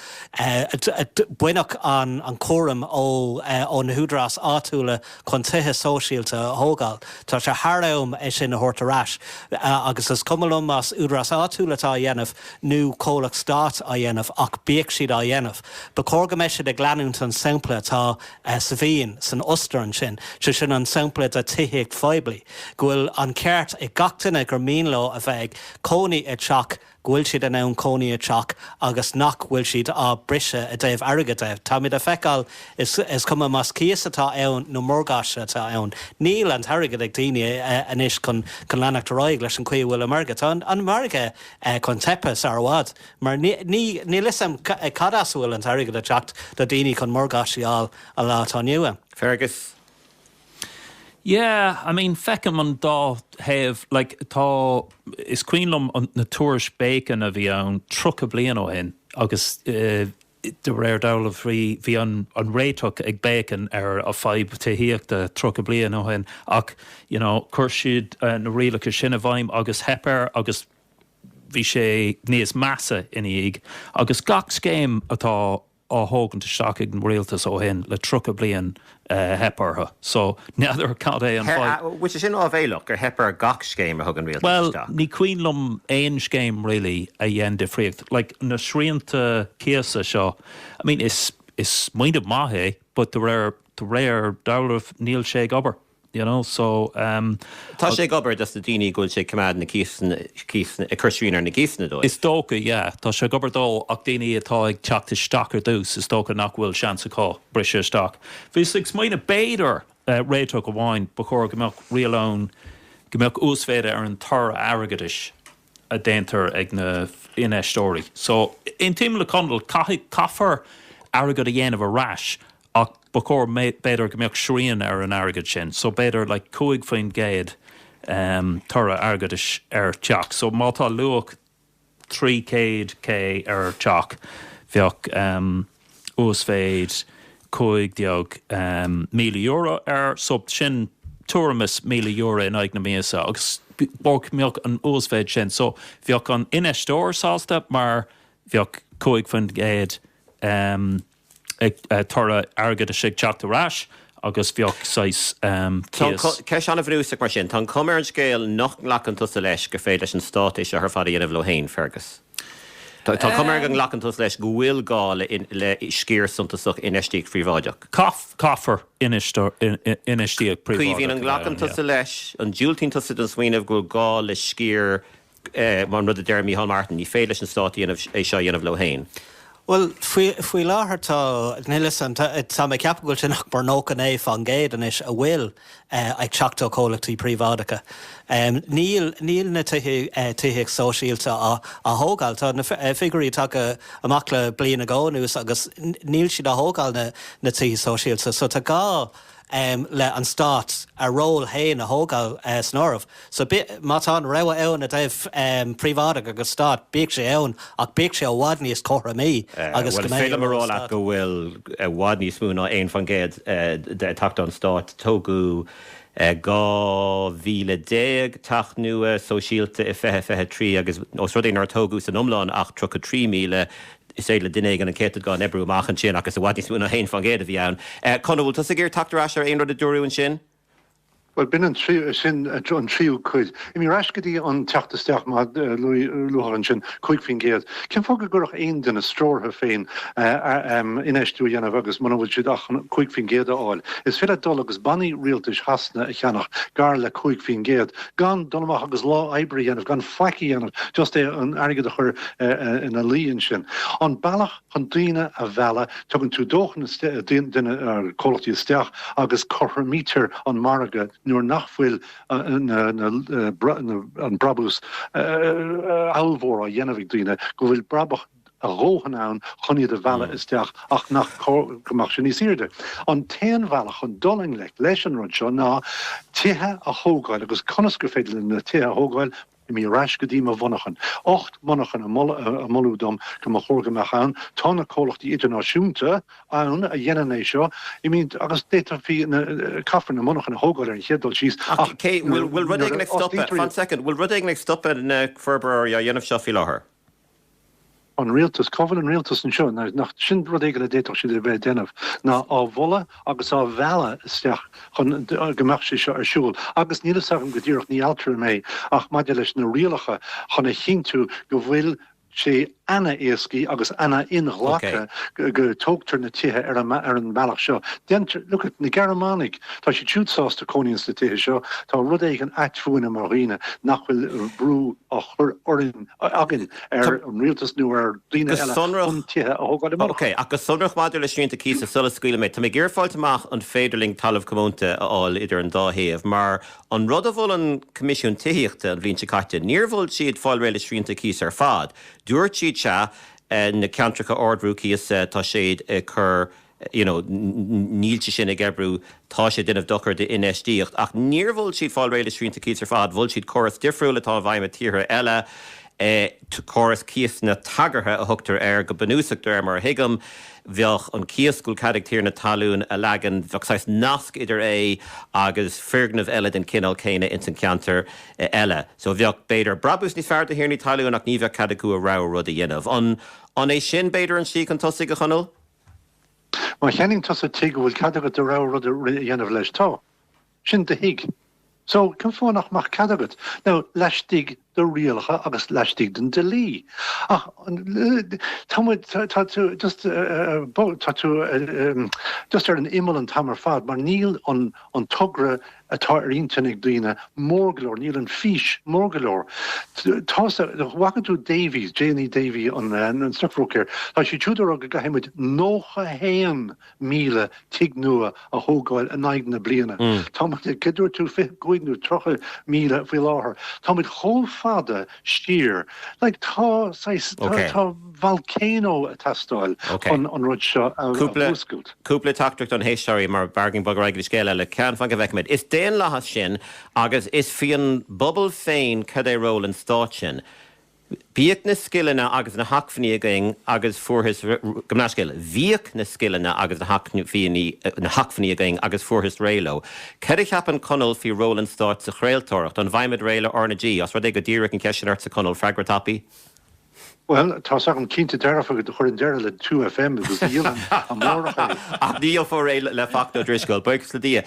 Baineadh an cúram ó na húdaráis áitiúla chun tithe sóisialta a thógáil. Tá sé thar am é sin a thabhairt ar ais agus is cuma liom más údaráis áitiúla atá á dhéanamh nó comhlacht stáit á dhéanamh ach bíodh siad á dhéanamh. Ba chóir go mbeidh siad ag leanúint an sampla atá sa Vín, san Ostair ansin, sé sin an sampla do tithíocht phoiblí. go bhfuil an ceart ag gach duine gur mian leo a bheith ag cónaí i dteach, go bhfuil siad in ann cónaí i dteach agus nach bhfuil siad á briseadh i dtaobh airgid de. Táimid a feiceáil, is cuma más cíos atá ann nó morgáiste atá ann, níl an t-airgead ag daoine anois chun leanacht ar aghaidh leis an chaoi a bhfuil an margadh. Tá an margadh chun teipe sar i bhfad mar níl 'fhios a'm cad as a bhfuil an t-airgead a theacht do daoine chun morgáiste a fháil an lá atá inniu ann. Fergus, Yeah, I mean, feicim an dá thaobh. Like, tá, is cuimhin liom na tuairiscí Bacon a bhí ann tríocha bliain ó shin agus de réir dealraimh bhí an réiteach ag Bacon ar an bhfadhb tithíochta tríocha bliain ó shin ach, you know, chuir siad na rialacha sin i bhfeidhm agus theip air agus bhí sé níos measa ina dhiaidh. Agus gach scéim atá á thógaint isteach ag an Rialtas ó shin le tríocha bliain theip orthu so n'fheadar cad é an fáth. Bhfuil sé sin áibhéileach, gur theip ar gach scéim a thug an Rialtas isteach? Bhuel ní cuimhin liom aon scéim really a dhein difríocht like na srianta cíosa seo I mean is smaoineamh maith é but de réir dealraimh níl sé ag obair. you know, so ehm. Tá sé ag obair dos na daoine go bhfuil sé ag coimeád na cíosanna, cíosanna, ag cur srian ar na gcíosanna dóibh. Is dócha, yeah, tá sé ag obair dó ach daoine atá ag teacht isteach ar dtús is dócha nach bhfuil seans acu briseadh isteach. Bhíos ag smaoineamh b'fhéidir réiteach amháin ba chóir go mbeadh riail ann go mbeadh uasmhéid ar an toradh airgeadais a déantar ag na infheisteoirí. So aontaím le Conall, caithfidh, caithfear airgead a dhéanamh ar ais. Ach ba chóir b'fhéidir go mbeadh srian ar an airgead sin. So b'fhéidir like cúig faoin gcéad toradh airgeadais ar theach. So má tá luach trí chéad K ar teach bheadh uasmhéid cúig déag míle euro air. So sin tuairim is míle euro in aghaidh na míosa agus bheadh an uasmhéid sin. So bheadh an infheisteoir sásta mar bheadh cúig faoin gcéad. toradh airgeadais ag teacht ar ais agus bheadh saghas cíos. Ceist an-bhrúsach mar sin. Tá an chuma ar an scéal nach nglacann tusa leis gur féidir leis an Stát é seo ar fad a dhéanamh leo féin, Fergus. Tá an chuma ar go nglacann tusa leis go bhfuil gá le sciar suntasach infheistíocht phríobháideach. Caithfear infheistíocht phríobháideach a bheith ann. Caoimhín, an nglacann tusa leis, an ndiúltaíonn tusa don smaoineamh go bhfuil gá le sciar mar an rud a deir Micheál Martin, ní féidir leis an Stát a dhéanamh é seo a dhéanamh leo féin. Bhuel, faoi láthair tá, níl 'fhios a'm, tá mé ag ceapadh go bhfuil sé nach mór 99% anois a bhfuil ag teacht ó chomhlachtaí príobháideacha. Níl, níl na tithe, tithíocht sóisialta á thógáil, tá na figiúirí atá acu amach le bliain nó dhó anuas agus níl siad á thógáil na, na tithe sóisialta. So tá gá. le an Stát a ról fhéin a thógáil san áireamh. So má tá an rogha ann i dtaobh príobháideach agus Stát, bíodh sé ann, ach bíodh sé i bhfad níos cothromaí agus go mbeidh ról an Stát. Bhuel, is féidir liom a rá leat go bhfuil i bhfad níos mó ná 1% de ag teacht ón Stát, tógadh 12,000 teach nua sóisialta i 2023 agus ós rud é nár tógadh san iomlán ach 33,000 is féidir le duine éigin an céatadán a oibriú amach ansin ach is i bhfad níos mó ná 1% a bhí ann. Conall, bhfuil tusa ag iarraidh tacht ar ais ar aon rud a dúradh ansin? Bhuel, b'in an tríú, sin an tríú cuid. Imigh ar ais go dtí an teacht isteach mar a luadh ansin, 5%. Cén fáth go gcuirfeadh aon duine stró orthu féin infheistiú a dhéanamh agus muna bhfuil siad ach chun 5% a fháil? Is féidir leat dul agus bannaí rialtais Shasana a cheannach gar le 5% gan dul amach agus lá oibre a dhéanamh, gan faic a dhéanamh, just é an airgead a chur ina luí ansin. An bealach chun daoine a mhealladh, tugann tú dóthain duine, comhlachtaí isteach agus cothromaítear an margadh nuair nach bhfuil an brabús ábhalmhór á dhéanamh ag daoine, go bhfuil brabach a dhóthain ann chun iad a mhealladh isteach. Nach cóir go mbeadh sé níos aoirde. An t-aon bhealach chun dul i ngleic leis an rud seo ná tithe a thógáil agus conas gur féidir linn na tithe a thógáil, imigh ar ais go dtí mo mhonarchana. Ocht monarcha a moladh dom go mba chóir go mbeadh ann. Tá na comhlachtaí idirnáisiúnta ann a dhéanann é seo, I mean agus d'fhéadfaí na, caithfear na monarchana a thógáil ar an chéad dul síos Ach bhfuil rud éigin ag stopadh, fan soicind, bhfuil rud éigin ag stopadh na forbróirí á dhéanamh seo faoi láthair? an Rialtas. Cá bhfuil an Rialtas anseo? Nach sin rud éigin a d'fhéadfadh siad a bheith ag déanamh ná á mholadh agus á mhealladh isteach chun go mbeadh sé seo ar siúl. Agus níl fhios agam go díreach, ní ailtire mé, ach maidir leis na rialacha chun a chinntiú go bhfuil sé ana-éasca agus ana-inghlactha go dtógtar na tithe ar an mbealach seo. Deintear, look at, na Gearmánaigh, tá siad siúd sásta cónaí ins na tithe seo. Tá rud éigin ait fúinne mar dhaoine nach bhfuil brú á chur orainn. againn ar an Rialtas nó ar dhaoine eile chun tithe a thógáil.. OK, ach go sonrach maidir le srianta cíosa, sula scaoilim leat, tá mé ag iarraidh fáilt amach an féidir linn talamh comónta a fháil idir an dá thaobh mar an rud a mhol an Coimisiún Tithíochta an bhliain seo caite, níor mhol siad fáil réidh le srianta cíosa ar fad. Dúirt siad sea, na ceantracha ardbhrú cíosa tá siad ag cur. you know, níl sé sin ag oibriú, tá sé ag déanamh dochar d'infheistíocht. Ach níor mhol siad fáil réidh le srianta cíosa ar fad, mhol siad córas difriúil atá i bhfeidhm i dtíortha eile, córas cíosanna tagartha a thugtar air go bunúsach, de réir mar a thuigim. Bheadh an cíos go bhfuil cead ag tiarna talún a leagan, bheadh saghas nasc idir é agus foirgneamh eile den chineál céanna ins an cheantar eile. So bheadh, b'fhéidir, brabach níos fearr do thiarnaí talún ach ní bheadh cead acu a rogha rud a dhéanamh. An é sin, b'fhéidir, an slí chun tosaigh, a Chonaill? Má cheannaíonn tusa tigh an bhfuil cead agat do rogha rud a dhéanamh leis, tá. Sin do thigh. So, cén fáth nach mbeadh cead agat? Now, laistigh de rialacha agus laistigh den dlí. Ach, tá muid, tá tú just tá tú just ar an imeall an t-am ar fad mar níl an togra atá ar intinn ag daoine, mór go leor, níl an fís mór go leor. An bhfaca tú Davy, J&E Davy, an Stockbroker, tá siad siúd ag rá go gcaithfidh muid 91,000 tigh nua a thógáil in aghaidh na bliana. Tá muid ag, cad dúirt tú, 25,000 nó 30,000 faoi láthair. Tá muid chomh fada siar. Like, tá, saghas, tá, tá volcano ag teastáil chun an rud seo a mhúscailt. Cúpla teachtaireacht ó na héisteoirí mar b'éigean bogadh ar aghaidh le scéal eile. Ceann, fan go bhfeicfimid. Is daonlathas sinn agus is faoin bpobal féin cad é ról an stáit sin. Bhíodh na scileanna agus na hacmhainní againn agus fuarthas, gabh mo leithscéal, bhíodh na scileanna agus na hacmhainní againn agus fuarthas réidh leo. Cad a cheapann Conall faoi ról an Stáit sa chraoltóireacht? An bhfaighimid réidh le R na G? Os rud é gur díríodh an cheist sin ortsa, Conall, freagra tapaidh. Bhuel, tá's agam, cinnte dearfa go gcuirfinn deireadh le Two FM agus dhíolfainn amárach é. Ach ní dhíolfar é le Fachtna Ó Drisceoil, buíochas le Dia.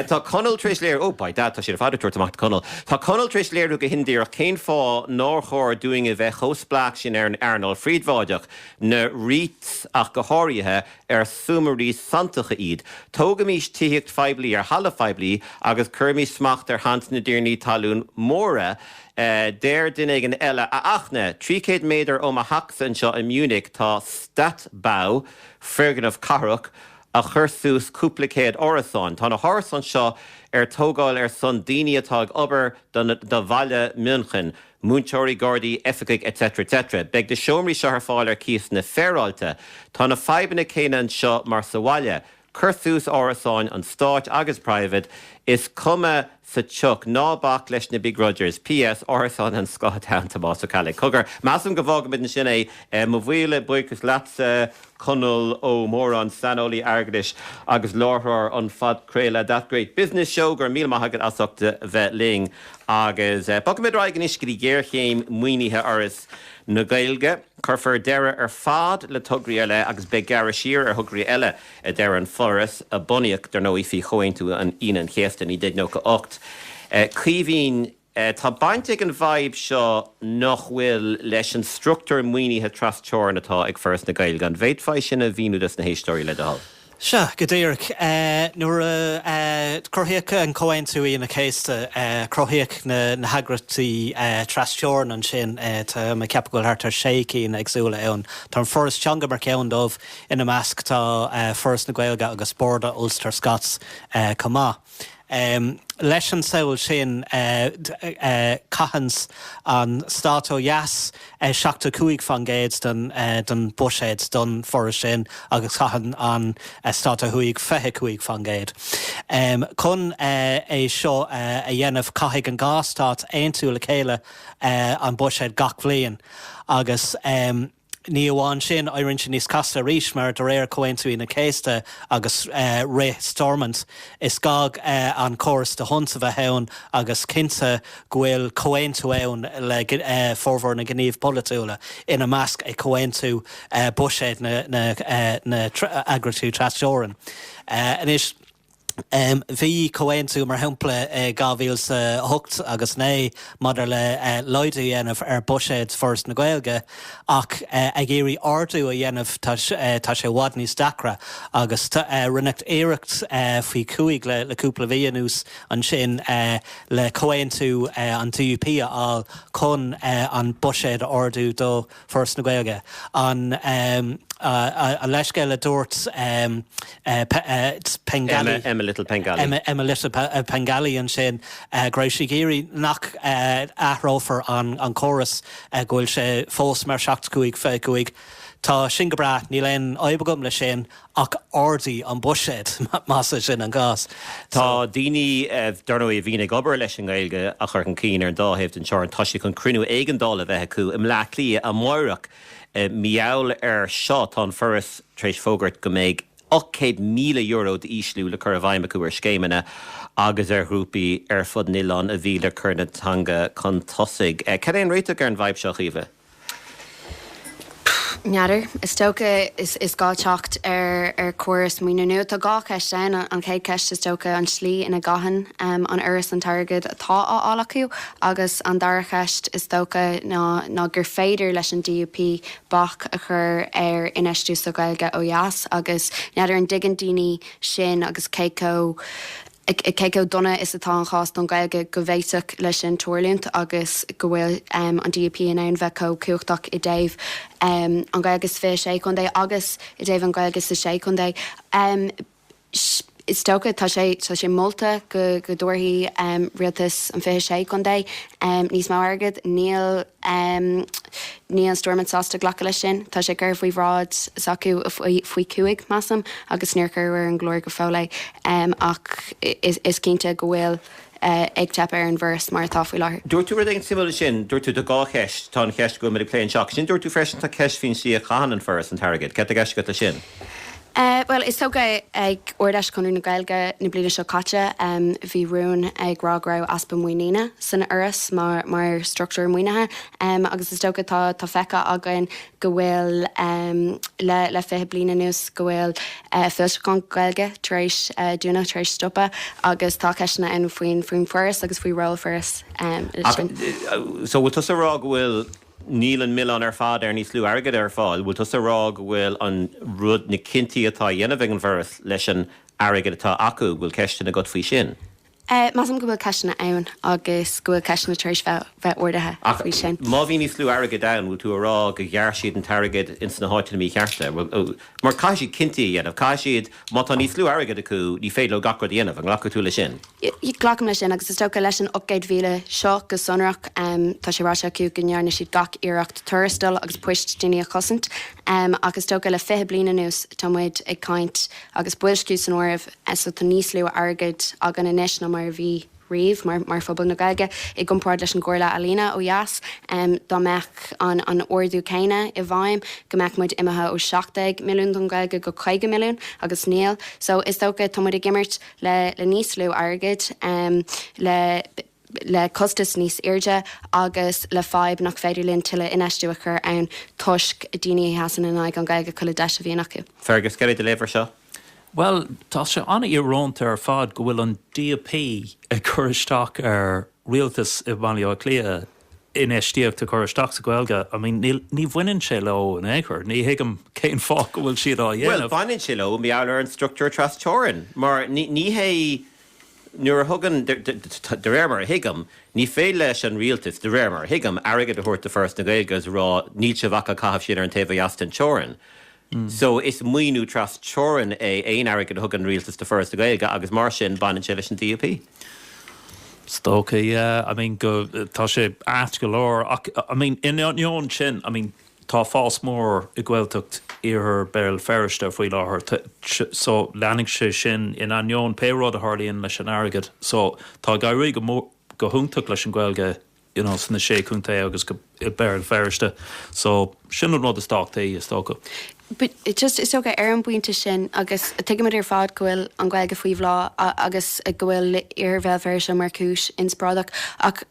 Tá Conall tar éis léiriú, oh by dad tá sé ar fad ag tabhairt amach do Conall, tá Conall tar éis léiriú go hindíreach cén fáth nár chóir dúinne bheith chomh spleách sin ar an earnáil phríobháideach, na REITs ach go háirithe, ar súmairí sanntacha iad. Tógaimís tithíocht phoiblí ar thalamh phoiblí agus cuirimís smacht ar shaint na dtiarnaí talún móra. Deir duine éigin eile, A Fhachtna, trí chéad méadar ó mo theachsa anseo i Munich tá Stadtbau, foirgneamh cathrach, a chuir suas cúpla céad árasáin. Tá na hárasáin seo ar tógáil ar son daoine atá ag obair do bhaile München. Múinteoirí, Gardaí, Oifigigh etc etc. Beidh na seomraí seo ar fáil ar chíosanna féaráilte. Tá na fadhbanna céanna anseo mar sa bhaile. Cuir suas árasáin an stáit agus private, is cuma sa tsioc. Ná bac leis na begrudgers. PS. Árasáin an Scotstown, Tomás Ó Ceallaigh. Cogar, measaim go bhfágfaimid ansin é. Mo mhíle buíochas leatsa. Conall Ó Móráin, saineolaí airgeadais agus láithreoir an phodchraoladh That Great Business Show. Go raibh míle maith agat as ucht a bheith linn. Agus bogfaimid ar aghaidh anois go dtí géarchéim maoinithe Fhoras na Gaeilge. Cuirfear deireadh ar fad le tograí ar leith agus beidh gearradh siar ar thograí eile, a deir an Foras, a bunaíodh, dar ndóigh, faoi Chomhaontú an Aoine an Chéasta i 1998. Caoimhín. E, Tá baint ag an bhfadhb seo nach bhfuil leis an structúr maoinithe tras-teorann atá ag Foras na Gaeilge. An bhféadfaí sin a mhíniú dos na héisteoirí le do thoil? Sea, go díreach. Nuair a cruthaíodh an Comhaontú Aoine Chéasta, cruthaíodh na heagraíochtaí tras-teorann ansin. Tá mé ag ceapadh go bhfuil thart ar sé cinn éagsúla ann. Tá an Foras Teanga mar cheann dóibh. Ina measc tá Foras na Gaeilge agus Boord o Ulster Scots chomh maith. Leis an samhail sin, caitheanns an Stát ó dheas 75 fán gcéad den bhuiséad don Foras sin agus caitheann an Stát ó thuaidh 25 fán gcéad. Chun é seo a dhéanamh caithfidh an dhá Stát aontú le chéile an buiséad gach bliain agus, Ní amháin sin, éiríonn sé níos casta arís mar, de réir Comhaontú Aoine an Chéasta agus rith Stormont, is gá an córas D'Hondt a bheith ann agus cinnte go bhfuil comhaontú ann le formhór na ngníomh polaitiúla, ina measc é comhaontú buiséid na n-eagraíochtaí trasteorann. Anois. Bhí comhaontú, mar shampla, i 2008 agus 2009 maidir le laghdú a dhéanamh ar bhuiséad Foras na Gaeilge ach ag iarraidh ardú a dhéanamh tá sé i bhfad níos deacra agus rinneadh iarracht faoi chúig le cúpla mhí anuas ansin le comhaontú an DUP a fháil chun an buiséad a ardú do Foras na Gaeilge An leithscéal a dúirt Pengelly, Emma Little Pengelly. Emma Little Pengelly ansin go raibh sí ag iarraidh nach athrófar an córas, go bhfuil sé fós mar seachtó cúig fiche a cúig. Tá sin go breá, níl aon fhadhb agam leis sin Ach ardaígí an buiséad, más é sin an cás. Tá daoine, dar ndóigh, a bhíonn ag obair leis an nGaeilge a chur chun cinn ar an dá thaobh den Teorainn. Tá sé chun cruinniú éigeandála a bheith acu i mBleá Cliath amáireach. I ngeall air seo, tá an Foras tar éis fógairt go mbeidh €800,000 d'ísliú le cur i bhfeidhm acu ar scéimeanna agus ar ghrúpaí ar fud an oileáin a bhí le cur na teanga chun tosaigh. Cén réiteach ar an bhfadhb seo, Chaoimhe? N'fheadar. Is dócha is gá teacht ar chóras maoinithe nua. Tá dhá cheist ann. An chéad cheist is dócha an tslí ina gcaitheann an Fhoras an t-airgead atá á fháil acu agus an dara cheist is dócha ná gur féidir leis an DUP bac a chur ar infheistiú sa Ghaeilge ó dheas agus n'fheadar an dtuigeann daoine sin agus cé chomh cé chomh dona is atá an chás don Ghaeilge go bhféadfadh leis sin tarlúint agus go bhfuil an DUP in ann bheith chomh cumhachtach i dtaobh an Ghaeilge sa 26 Chontae agus i dtaobh an Ghaeilge sa Sé Chontae. Is dócha tá, tá sé molta go dtabharfaidh rialtas an 26 Chontae níos mó airgead. Níl. Em. Níl an Stormont sásta glacadh leis sin. Tá sé curtha faoi bhráid s'acu faoi chúig, measaim, agus níor cuireadh ar an gclár go fóill é. Em. Ach is cinnte go bhfuil eh ag teip ar an bhForas mar atá faoi láthair. Dúirt tú rud éigin suimiúil ansin. Dúirt tú tá dhá cheist. Tá an cheist go bhfuil muid a plé anseo. Agus ansin dúirt tú freisin tá ceist faoin slí a chaitheann an Foras an t-airgead. Céard tá i gceist agat leis sin? Bhuel, is dócha, ag Ard-Fheis Chonradh na Gaeilge na bliana seo caite, bhí rún ag rá go raibh easpa muiníne san Fhoras mar struchtúr maoinithe agus is dócha tá feicthe againn go bhfuil, le fiche bliain anuas, go bhfuil foilseacháin Gaeilge tar éis dúnadh, tar éis stopadh agus tá ceisteanna ann faoi, faoin bhForas agus faoi ról Foras. So bhfuil tusa a rá go bhfuil Níl an milleán ar fad ar níos lú airgead ar fáil. Bhfuil tusa a rá go bhfuil an rud, na cinntí atá á dhéanamh ag an bhForas leis an airgead atá acu, go bhfuil ceisteanna agat faoi sin? Measaim go bhfuil ceisteanna ann agus go bhfuil ceisteanna tar éis bheith ardaithe faoi sin. Ach má bhí níos lú airgid ann, bhfuil tú a rá go ghearr siad an t-airgead ins na háiteanna míchearta? Mar caithfidh siad cinntí a dhéanamh. Caithfidh siad Má tá níos lú airgid acu ní féidir leo gach rud a dhéanamh, an nglacfadh tú leis sin? Glacaim leis sin agus is dócha leis an 800,000 seo go sonrach tá sé ráite acu go ndearna siad gach iarracht tuarastail agus poist daoine a chosaint ach is dócha le 20 bliain anuas tá muid ag caint, agus boilsciú san áireamh, so tá níos lú airgid againn anois ná mar a bhí. riamh mar mar phobal na Gaeilge i gcomparáid leis an gComhairle Ealaíona ó dheas. Dá mbeadh an an ardú céanna i bhfeidhm go mbeadh muid imithe ó 17 milliún don Ghaeilge go 50 milliún agus níl. So is dócha tá muid ag imirt le le níos lú airgid, le le costas níos airde agus le fadhb nach féidir linn tuilleadh infheistiú a chur ann toisc daoine a sheasann in aghaidh an Ghaeilge chuile deis a bhíonn acu. Fergus, céard é do léamh ar seo? Bhuel, tá sé an-íorónta ar fad go bhfuil an DUP ag cur isteach ar rialtas i mBaile Átha Cliath infheistíocht a chur isteach sa Ghaeilge. I mean, ní bhaineann sé leo in aon chor. Ní thuigim cén fáth go bhfuil siad á dhéanamh. Bhuel, baineann sé leo mar gheall ar an structúr tras teorainn. Mar ní hé, nuair a thugann, de réir mar a thuigim, ní féidir leis an rialtas, de réir mar a thuigim, airgead a thabhairt do Foras na Gaeilge agus a rá níl sibh ach ag caitheamh sin ar an taobh ó dheas den teorainn. so is maoiniú tras teorainn é aon airgead a thugann an Rialtas do Foras na Gaeilge agus mar sin baineann sé leis an DUP. Is dócha yeah, I mean go, tá sé ait go leor ach I mean in ainneoin sin I mean tá fás mór i Gaeltacht Iarthar Béal Feirste faoi láthair so leanfaidh sé sin in ainneoin pé rud a tharlaíonn leis an airgead so tá ag éirí go go hiontach leis an Gaeilge you know sna Sé Contae agus go, i Béal Feirste so sin an rud is tábhachtaí is dócha. But just is dócha ar an bpointe sin agus tuigimid ar fad go bhfuil an Ghaeilge faoi bhláth agus go bhfuil iarthar Bhéal Feirste mar chúis inspioráideach ach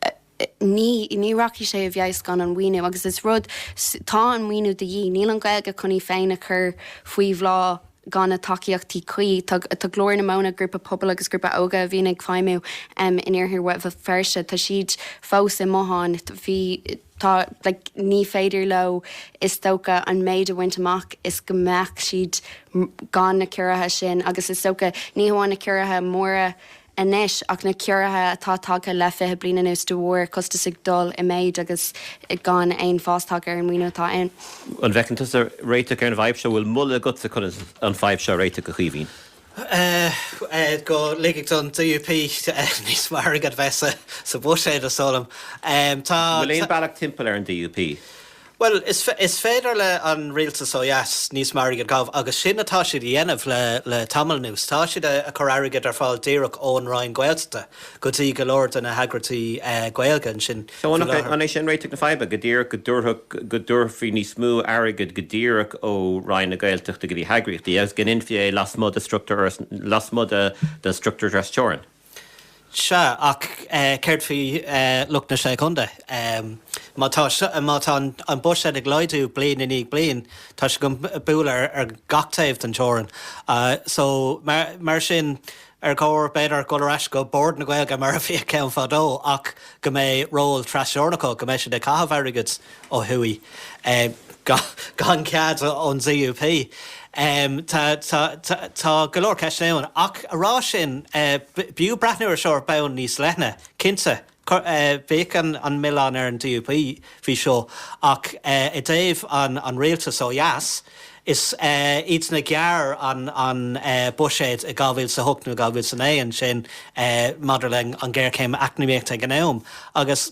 ní, ní rachaidh sé i bhfeabhas gan an maoiniú agus is rud, tá an maoiniú de dhíth, níl an Ghaeilge chun í féin a chur faoi bhláth. gan na tacaíochtaí cuí. Tá Glór na Móna, grúpa pobail agus grúpa óige a bhíonn ag feidhmiú in iarthar Bhéal Feirste, tá siad fós i mbotháin. Bhí tá like ní féidir leo is dócha an méid a bhaint amach is go mbeadh siad gan na ciorruithe sin agus is dócha ní hamháin na ciorruithe móra anois ach na ciorruithe atá tagtha le fiche bliain anuas de bharr costas ag dul i méid agus gan aon fás tagtha ar an maoiniú atá ann. An bhfeiceann tusa réiteach ar an bhfadhb seo? Bhfuil moladh agatsa conas an fadhb seo a réiteach, a Chaoimhín? go ligfeadh an DUP níos mó airgead bheith sa Bhuiséad, a shamhlaím. An bhfuil aon bealach timpeall ar an DUP? Bhuel, is féidir le an Rialtas ó dheas níos mó airgid a gabh agus sin atá siad a dhéanamh le tamall anuas. Tá siad ag cur airgid ar fáil díreach ón Roinn Gaeltachta go dtí go leor de na heagraíochtaí Gaeilge ansin faoi láthair. So an é sin réiteach na faidhbe, go díreach go dtabharfadh, go dtabharfaí níos mó airgid go díreach ó Roinn na Gaeltachta go dtí na heagraíochtaí agus go ndéanfaí é lasmuigh de struchtúr, lasmuigh den struchtúr trasteorann? Sea, ach céard faoi lucht na Sé Chontae? Má tá an buiséad ag laghdú bliain i ndiaidh bliain, tá sé chun bualadh ar gach taobh den teorainn. So, mar sin, ar chóir, b'fhéidir, dhul ar ais go Bord na Gaeilge mar a bhíodh ann fadó ach go mbeidh ról trasteorann acu, go mbeidh siad ag caitheamh airgid, ó thuaidh, gan cead ón DUP. Tá go leor ceisteanna ann. Ach a rá sin, b'fhiú breathnú air seo ar bhonn níos leithne. Cinnte, bheadh an milleán ar an DUP faoi seo. Ach i dtaobh an rialtas ó dheas, is iad a ghearr an buiséad i 2008 nó 2009 ansin maidir le an ghéarchéim eacnamaíochta ag an am. Agus.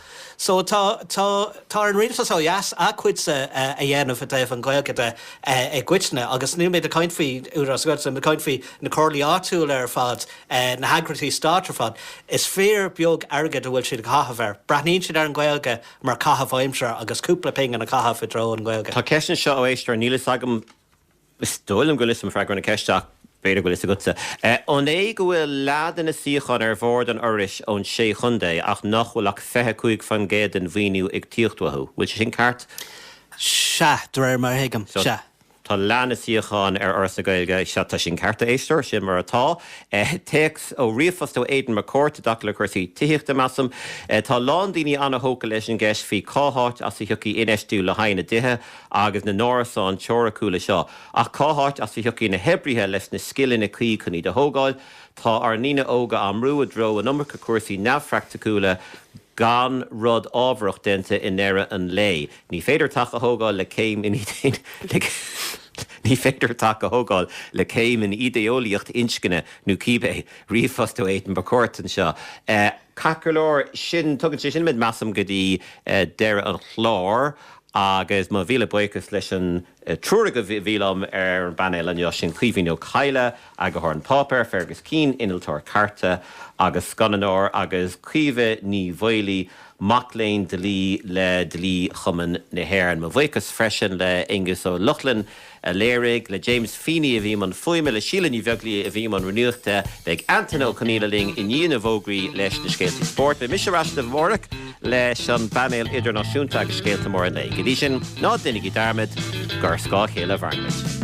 So tá, tá, tá ar an Rialtas ó dheas a cuidse a dhéanamh i dtaobh an Ghaeilge de i gcoitinne agus níl muid ag caint faoi Údarás na Gaeltachta, níl muid ag caint faoi na Comhairlí áitiúla ar fad, na heagraíochtaí Stáit ar fad. Is fíor beag airgid a bhfuil siad a' caitheamh air. Breathnaíonn siad ar an Ghaeilge mar caitheamh aimsire agus cúpla pingin a chaitheamh i dtreo an Ghaeilge. Tá ceist anseo ó éisteoir, níl fhios agam. Is dóigh liom go bhfuil 'fhios a'm freagra na ceiste ach b'fhéidir go bhfuil 'fhios agatsa. An é go bhfuil leath de na suíocháin ar bhord an Fhorais ón Sé Chontae ach nach bhfuil ach 25 faoin gcéad den mhaoiniú ag tíocht uathu? Bhfuil sé sin ceart? Sea, de réir mar a thuigim, sea. So, tá leath na suíocháin ar Fhoras na Gaeilge, sea, tá sin ceart, a Éisteoir, sin mar atá. Téacs ó ríomhphost ó Aidan McCourt i dtaca le cúrsaí tithíochta, measaim. Tá a lán daoine an-thógtha leis an gceist faoi cá háit as a thiocfaidh infheistiú le haghaidh na dtithe. agus na n-árasáin teoiriciúla seo, ach cá háit as a thiocfaidh na hoibrithe leis na scileanna cuí chun iad a thógáil? Tá ár ndaoine óga á mbrú i dtreo an iomarca cúrsaí neamhphraicticiúla gan rud ábharach déanta i ndeireadh an lae. Ní féidir teach a thógáil le céim in Ní féidir teach a thógáil le céim in idé-eolaíocht inscne nó cibé ríomhphost ó Aidan McCourt anseo. Ceart go leor, sin, tugann sé sin muid, measaim, go dtí deireadh an chláir. Agus mo mhíle buíochas leis an triúr agaibh a bhí liom ar an bpainéal ansin, Caoimhín Ó Cadhla, Eagarthóir An Páipéar, Feargus Keane, Innealtóir Cairte agus Scannánóir, agus Caoimhe Ní Mhaolaí, Mac léinn Dlí le Dlí-Chumann na hÉireann. Mo bhuíochas freisin le Aonghus Ó Lochlainn, a léirigh, le James Feeney a bhí i mbun fuaime, le Síle Ní Bheaglaoidh a bhí i mbun nuachta, beidh Antaine Ó Conaola linn i ndiaidh na bhfógraí leis na scéaltaí spóirt. Beidh mise ar ais libh amárach leis an bpainéal idirnáisiúnta agus scéalta móra an lae. Go dtí sin, ná deinigí dearmad gur scáth a chéile a mhairimid.